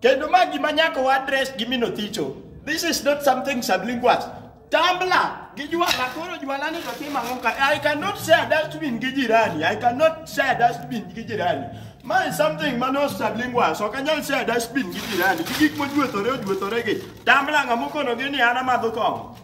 Kendo ma gima nyaka wa address gi mino thicho. This is not something sublinguals. Tambla gi juala koro juala ni to timo ang'o ka? I cannot share dustbin gi jirani. I cannot share dustbin gi jirani. Ma is something ma no sublinguals. Ok anyal share dustbin gi jirani. Gi gik mojuethore ojuethore gi. Tambla ng'ama okonogi ni an amadho kong'o.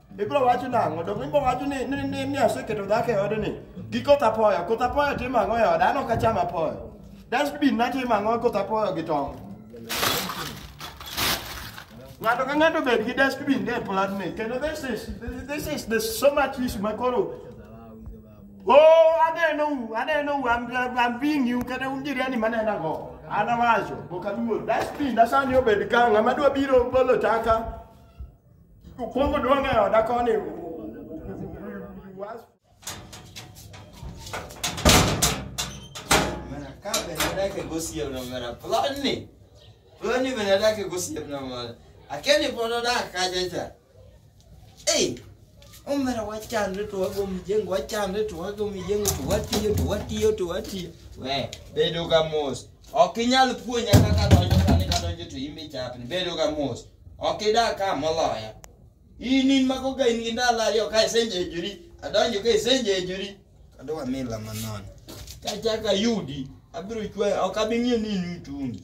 ibiro wacho nang'o to ibiro wacho ni ni ni ni aseketo dhako e odni gi koth apoyo koth apoyo timo ang'o e oda an ok acham apoyo dustbin natimo ang'o koth apoyo gi tong' ng'ato ka ng'ato bed gi dustbin e platni kendo this is this is the so much issue ma koro oh aneno u aneno u I'm, I'm, I'm being you kata un jirani manena go anawacho ok aluor dustbin asani obed ka ng'ama dwa biro bolo taka Okuongo duong' e oda koni. Was- Mana ka benadake gosiep na mana plani. Plani benadake gosiep na mana. Akeni pod odak kacha cha. Ei, omera wachandre to wago mijengo, wachandre to wago mijengo, to watiyo, to watiyo, to watiyo. We, bedo ka mos. Ok inyal puonja kaka donjo sani kadonjo to imbe chapni bedo ga mos. Ok idak ka moloya. In in mako ga in gi ndalo ariyo ka isenjejori. Adonjo ka isenjejori. Adwa mila manon. Kachaka yudi. Abiro chwe ok abing'e ni in mitungi.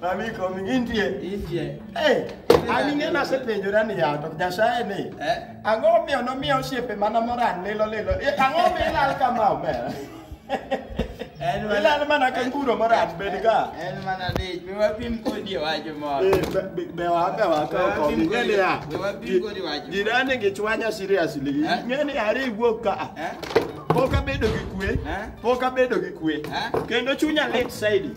Mami komi intie. Intie. Hey, ami ng'e nasepenjora ni yato Nyasaye ni. Eh? Ang'o omiyo nomiyo osiepe mana moran lilo lilo. Eh, ang'o omiyo ilal kama omer? Ilal mana ka nguro moran bed ka. En mana dich. Be wapim kodi wacho moro. Eh, be wa be wa ka ko mi ng'e ni ya. Be wapim kodi wacho. Jirani gi chwanya seriously. Eh? Ng'e ni are iwuok ka. Eh? Pok abedo gi kwe. Pok abedo gi kwe. Kendo chunya lit saidi.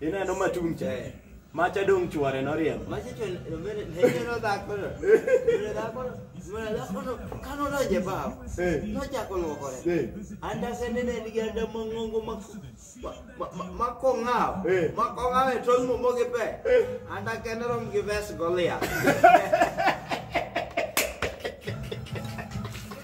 Ineno matung' cha. Eh. Macha dong' chware noriembo. Macha chware noriembo. Macha chware dhako no. Mene dhako no. Mene dhako no. Kano donje bao. Eh. Nochako luokore. Eh. Andase nene nigi anda mang'ongo makong'aw. Makong'aw e tol momo gi pe. Anda kende rom gi ves golia.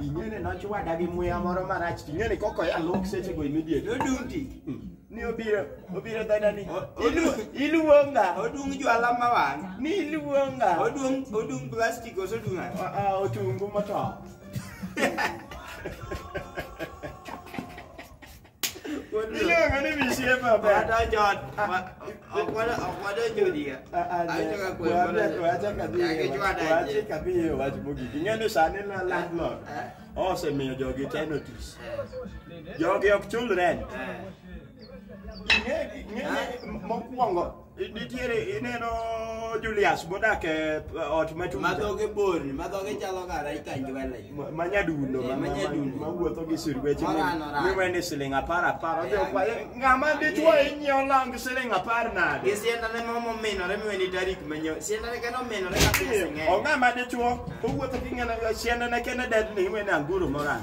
ing'ene nochwada gi muya moro marach to ing'ene koko ya lok seche go immediate odung' ti ni obiro obiro dhoda ni O- odu- iluonga odung' jwala ma wang' ni iluonga odung' odung' plastic ose odung' ang'o? Ah, ah, otungu motop Ile ngani mishie baba. Wada jod. Akwada akwada jodi ya. Acha ka kwe bana. Acha kadhi. Acha kadhi wach mogi. Ing'eyo sani na landlord. Osemiyo jogi te notice. Jogi ok chul rent. Ing'eyo mokwongo Nitiere ineno Julius modak e ot machuja. Madhoge borni, madhoge chalo kara ikanji wele. Ma nyadundo, eh, ma nyadundo. Ma wuotho gi sirweche mi wene siling apar apar. Odhi eh, okwaye, eh, ng'ama dichwo inyiewo lang siling apar nade? Gi siendane ma mominore mi weni tarik manyo. Siendane kendo ominore ka pesa ng'eny. O ng'ama dichwo, owuotho gi ng'ene siendane kende dedni iwene anguro morang.